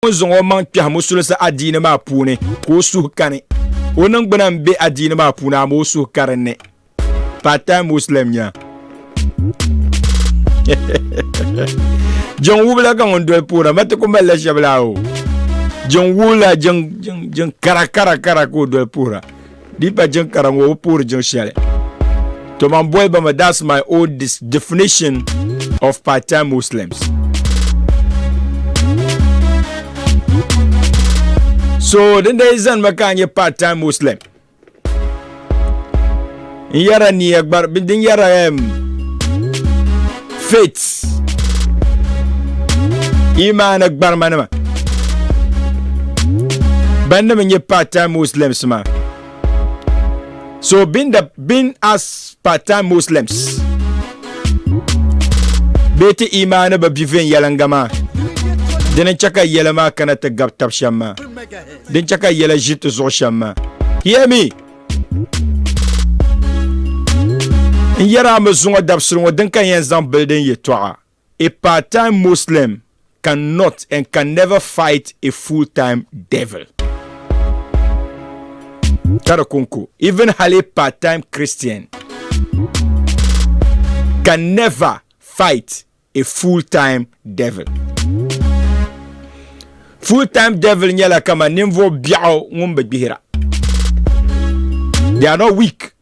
ŋun zaŋ o maŋ kpɛhi musulisi adiini maa puuni ka o suhu kani o ningbuna n bɛ adiini maa puuni ama o suhu ka dinni part time muslim nya jin wubila ka ŋun doli puura mati ku malila shɛbi la o jin wubila jin kara kara kara ka o doli puura Di pa jiŋ kara ŋɔ bi puhiri jiŋ shɛli. To man boli ba mi that's my old definition of part time Muslims. So din dai zani ma ka nyɛ part time Muslim. N yɛra niya gbari din yɛra um, faith imaana gbarima nima ban nima nyɛ part time muslims ma so being the being as part time muslims bee ti imaana bi bi viɛnyɛlinga maa din n chɛ ka yɛla maa kana ti gabi tab shɛm maa din chɛ ka yɛla ʒi ti zuɣu shɛm maa hear me N yɛra a mi zuŋɔ dabisili ŋɔ din ka yɛn zaŋ bili din yɛtɔɣa A part-time Muslim can not and can never fight a full-time devil. Ka di kunko, even hali a part-time Christian can never fight a full-time devil. Full-time devil nyɛla kama ninvuɣ biɛɣu ŋun bi gbihira. They are not weak.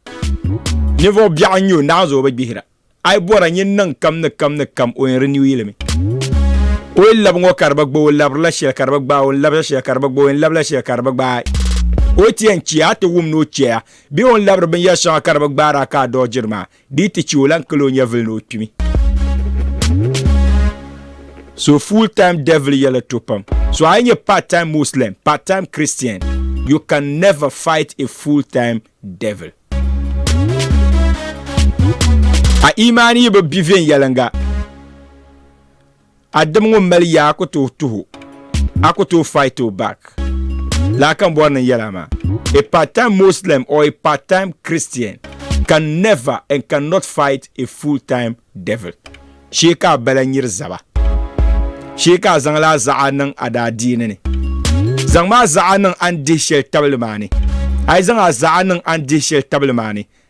Ninvuɣ biɛɣu n-nyɛ o, naanzu o bi gbihira. A yi bɔra nyin niŋ kam ni kam ni kam, o yɛn renew yi li mi. O yɛn labi ŋɔ ka di bi gbaai, o labirila shɛli ka di bi gbaai, o ni labiri shɛli ka di bi gbaai, o yɛn labila shɛli ka di bi gbaai. O ti yɛn chɛ a ti wum ni o chɛ a, bee o ni labiri binyɛr shɛŋa ka di bi gbaai a ka a dɔɣi jiri maa, Di yi ti chɛ o lan kali o nyɛvili ni o kpimi. So full time devil yɛla to pam. So a yi nyɛ part time Muslim, part time Christian, you can never fight a full time devil. A imaani yi bi bi viɛnyɛliŋga. a dim ŋun mali yaa a ku tooi tuhi o, a ku tooi fight o back. Lala ka n bɔri niŋ yɛla maa. A part time Muslim or a part time Christian can never and can not fight a full time devil. Shee ka a bala nyiri zaba. Shee ka a zaŋla a zaɣa niŋ a daadiini ni. Zaŋm a zaɣa niŋ a ni dihi shɛli tabili maa ni. A yi zaŋ a zaɣa niŋ a ni dihi shɛli tabili maa ni,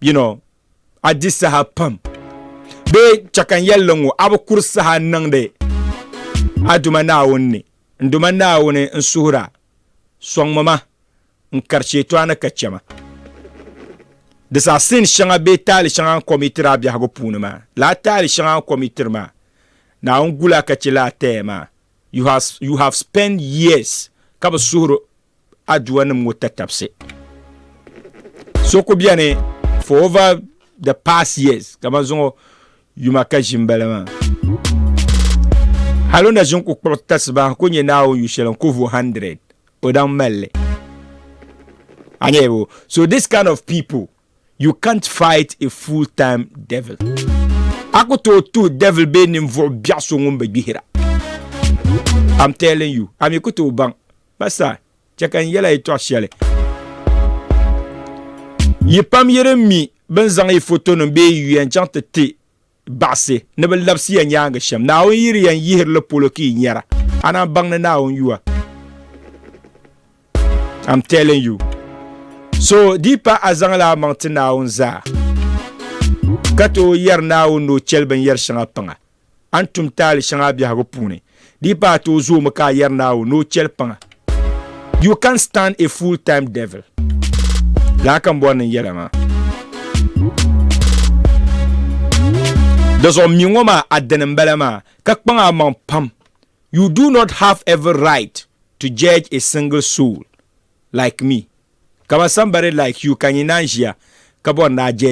you know a di saha pam bee chɛ ka n yɛli li ŋɔ a bi kuri saha n niŋdi a Duuma Naawuni ni n Duuma Naawuni n suhir a sɔŋmi ma n kari Shɛtɔɣani ka chɛ ma di saha sin shɛŋa bee taali shɛŋa n kom yi tiri a biɛhigu puuni maa laa taali shɛŋa n kom yi tiri maa Naawuni gul a ka chɛ li a taya maa you have, you have spent years ka bi suhir aduwa nim ŋo tatabisi so ku biɛni for over the past years kamani zuŋo yuma ka ʒi n bala maa hali na ʒin ku kpuɣi tasiba ku nyɛ naawuni yu shɛli n ku vu 100 o daŋ malli anyɛbo so this kind of people you can't fight a full time devil a ku tooi tuhi devil bee ninvuɣu biɛɣu so ŋun bi gbihira I'm telling you ami ku tooi baŋ Pastor, chɛ ka n yɛl a yɛtɔɣ shɛli. Yi pam yi din mi bɛ ni zaŋ yi fotonim bee yi yuya n-chaŋ ti ti baɣisi ni bɛ labisi ya nyaaŋa shɛm, Naawuni yiri ya n-yihiri li polo ka yi nyara, a naan baŋ ni Naawuni yuwa. I'm telling you. So di yi pahi a zaŋla a maŋ ti Naawuni zaa ka tooi yɛri Naawuni ni o chɛli binyɛr shɛŋa paŋa, A ni tum taali shɛŋa a biɛhigu puuni, di yi pa ata o zoomi ka a yɛri Naawuni ni o chɛli paŋa. You can't stand a full time devil. Lala ka n bɔri niŋ yɛla maa. Dizuɣu m mi ŋɔ maa a dini m-bala maa, ka kpaŋ a maŋ pam. You do not have every right to judge a single soul like me. Ka ba sambari like you ka n yi naan ʒiya ka bɔri ni a judge